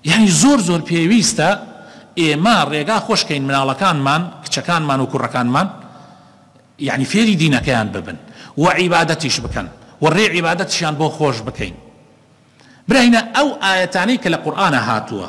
یانی زۆر زۆر پێویستە ئێمە ڕێگا خۆش کەین مناڵەکانمان کچەکانمان و کوڕەکانمان یانی فێری دینەکەیان ببن و عیبادەتیش بکەن و ڕێ عیبادەتشیان بۆ خۆش بکەین براینە ئەو ئاەتانەی کە لە قورآە هاتووە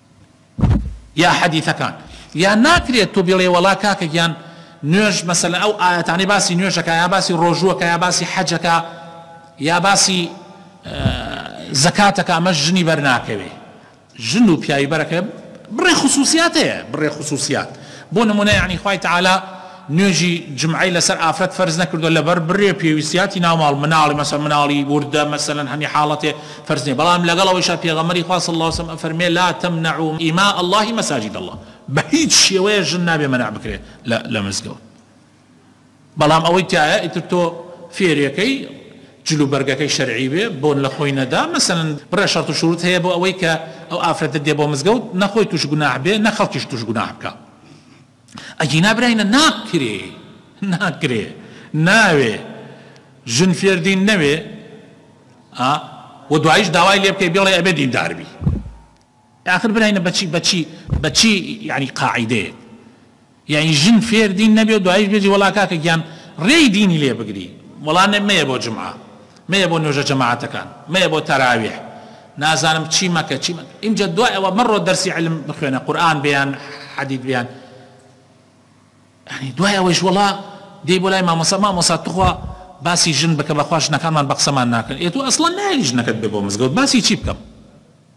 یا حەدیثەکان یا ناکرێت تۆ بڵێ وەڵا کاکە گیان نوێژ مەسەلەن ئەو ئاەتانەی باسی نوێژەکە یا باسی ڕۆژووەکە یا باسی حەجەکە یا باسی زەکاتەکە ئەمە ژنی بەرناکەوێ ژن و پیاوی بەرەکە بڕێ خصوصیاتەیە بڕێ خصوصیات بۆ نمونە یعنی خی تعالا نوێژی جمعەی لەسەر ئافرەت فەرز نەکردووە لەبەر بڕێ پێویستیاتی ناوماڵ مناڵی مەسەن مناڵی وردە مەسەلەن هەمی حاڵەتێ فەرز نیە بەڵام لەگەڵ ئەوەیشا پێغەمبەری خوا صلی اللە علیە وسلم ئەفەرموێ لا تمنعو ئیماء اللە مساجد اللە بەهیچ شێوەیەک ژن نابێ مەنع بکرێ لە لە مزگەوت بەڵام ئەوەی تایە ئیتر تۆ فێرەکەی جل و بەرگەکەی شەرعی بێ بۆن لە خۆی نەدا مەسەن بڕێ شەرت و شروت هەیە بۆ ئەوەی کە ئەو ئافرەتە دێ بۆ مزگەوت نەخۆی توش گوناح بێ نە خەڵکیش توش گوناح بکا ئەگینا براینە ناکرێ ناکرێ ناوێ ژن فێر دین نەوێ ئا و دوایش داوای لێ بکەی بێڵێ ئەبێ دیندار بی آخر براینە بەچی بەچی بەچی یعنی قاعدەیە یعنی ژن فێر دین نەبێ و دوایش بێجی وەڵا کاکە گیان ڕێی دینی لێ بگری وەڵا نەمەیە بۆ جمعە مەیە بۆ نوێژە جەماعەتەکان مەیە بۆ تەراویح نازانم چی مەکە چی مەکە ئینجا دوای ئەوە مەڕۆ دەرسی علم بخوێنە قورئان بێ یان حەدیت بێ یان یانی دوای ئەوەیش وەڵا دێی بۆ لای مامۆستا مامۆستا توخوا باسی ژن بکە بەخوا ژنەکانمان بە قسەمان ناکەن ئێ تۆ ئەسڵەن نایەی ژنەکەت بێ بۆ مزگەوت باسی چی بکەم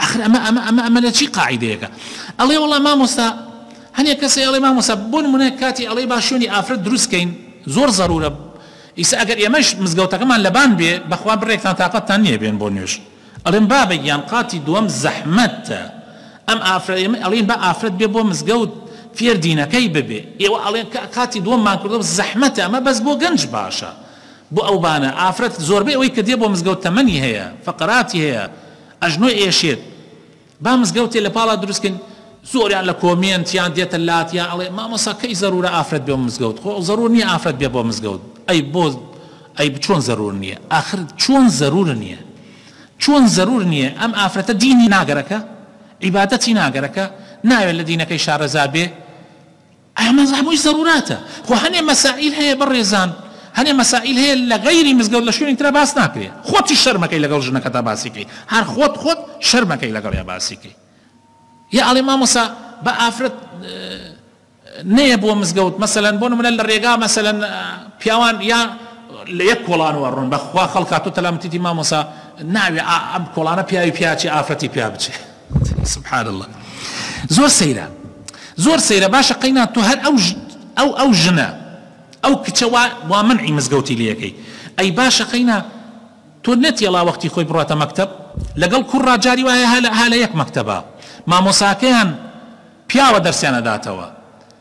ئەخر ئەمە ئەمە ئەمە ئەمە لەچی قاعیدەیەکە ئەڵێ وەڵا مامۆستا هەنێ کەسێ ئەڵێ مامۆستا بۆ نمونە کاتی ئەڵێ با شوێنی ئافرەت دروست کەین زۆر زەرورە ئیسا ئەگەر ئێمەش مزگەوتەکەمان لەبان بێ بەخوا بڕێکتان تاقەتتان نییە بێن بۆ نوێژ ئەڵێم بابە گیان قاتی دووەم زەحمەتە ئەم ئافرەت ئێمە ئەڵێن با ئافرەت بێ بۆ مزگەوت فێر دینەکەی ببێ ئێوە ئەڵێن کە قاتی دووەممان کردەوە زەحمەتە ئەمە بەس بۆ گەنج باشە بۆ ئەو بانە ئافرەت زۆربەی ئەوەی کە دێ بۆ مزگەوت تەمەنی هەیە فەقەراتی هەیە ئەژنۆی ئێشێت با مزگەوتێ لە پاڵا دروست کەین زۆریان لە کۆمێنت یان دێتە لات یان ئەڵێ مامۆسا کەی زەرورە ئافرەت بێ مزگەوت خۆ زەرور نییە ئافرەت بێ بۆ مزگەوت ئەی بۆ ئەی چۆن زەرور نییە ئاخر چۆن زەرور نییە چۆن زەرور نییە ئەم ئافرەتە دینی ناگەرەکە عیبادەتی ناگەرەکە ناوێت لە دینەکەی شارەزا بێ ئەمە هەمووی زەروراتە خۆ هەنێ مەسائیل هەیە بەڕێزان هەنێ مەسائیل هەیە لە غەیری مزگەوت لە شوێنی ترا باس ناکرێ خۆتیش شەرمەکەی لەگەڵ ژنەکەتا باسی کەی هەر خۆت خۆت شەرمەکەی لەگەڵیا باسی کەی یا ئەڵێ مامۆسا بە ئافرەت نەیە بۆ مزگەوت مەسەلەن بۆ نمونە لە ڕێگا مەسەلەن پیاوان یا لە یەک کۆڵانەوە ڕوون بەخوا خەڵکاتۆ تەلامتیتی مامۆسا ناوێ ئەم کۆڵانە پیاوی پیاچی ئافرەتی پیا بچێ سبحان اللە زۆر سەیرە زۆر سەیرە باشە قەینا تۆ هەر ئەو ئەو ئەو ژنە ئەو کچە وا وا منعی مزگەوتی لەکەی ئەی باشە قەینا تۆ نەتێڵا وەختی خۆی بڕاتە مەکتب لەگەڵ کوڕ ڕاجاری وایە هەلە هەلە یەک مەکتبە مامۆساکەیان پیاوە دەرسیانە داتەوە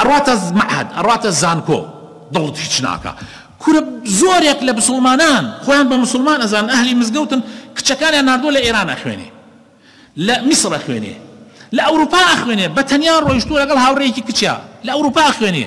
ئەڕاتە مەعهەد ئەڕاتە زانکۆ دڵت هیچ ناکا کورە زۆرێک لە مسوڵمانان خۆیان بە مسوڵمان ئەزانن ئەهلی مزگەوتن کچەکانیان ناردووە لە ئێران ئەخوێنێ لە میسر ئەخوێنێ لە ئەوروپا ئەخوێنێ بە تەنیا ڕۆیشتووە لەگەڵ هاوڕێیەکی کچیا لە ئەوروپا ئەخوێنێ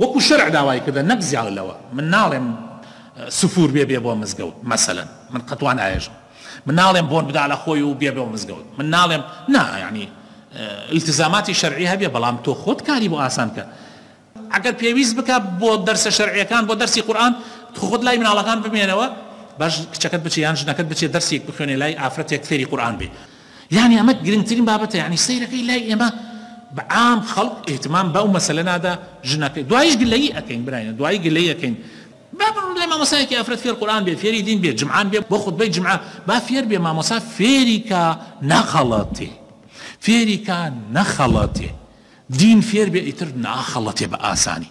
وەکو شەرع داوای کردە نەک زیاو لەوە من ناڵێم سفور بێ بێ بۆ مزگەوت مەسەلەن من قەتوان ئاێژم من ناڵێم بۆن بدا لە خۆی و بێ بۆ مزگەوت من ناڵێم نا یعنی التزاماتی شەرعی هەبێ بەڵام تۆ خۆت کاری بۆ ئاسان کە ئەگەر پێویست بکە بۆ دەرسە شەرعیەکان بۆ دەرسی قورآن خۆت لای مناڵەکان بمێنەوە باش کچەکەت بچێ یان ژنەکەت بچێ دەرسێک بخوێنێ لای ئافرەتێک فێری قورئان بێ یانی ئەمە گرنگترین بابەتە یانی سەیرەکەی لای ئێمە بە عام خەڵک ئیهتمام بەو مەسەلە نادا ژنەکەی دوایش گلەیی ئەکەین برایان دوایی گلەیی ئەکەین با بڵێ مامۆسایەکی ئافرەت فێر قورئان بێ فێری دین بێ جمعان بێ بۆ خوتبەی جمعە با فێر بێ مامۆسا فێری کا نەخەڵەتێ فێری کا نەخەڵەتێ دین فێر بێ ئیتر ناخەڵەتێ بە ئاسانی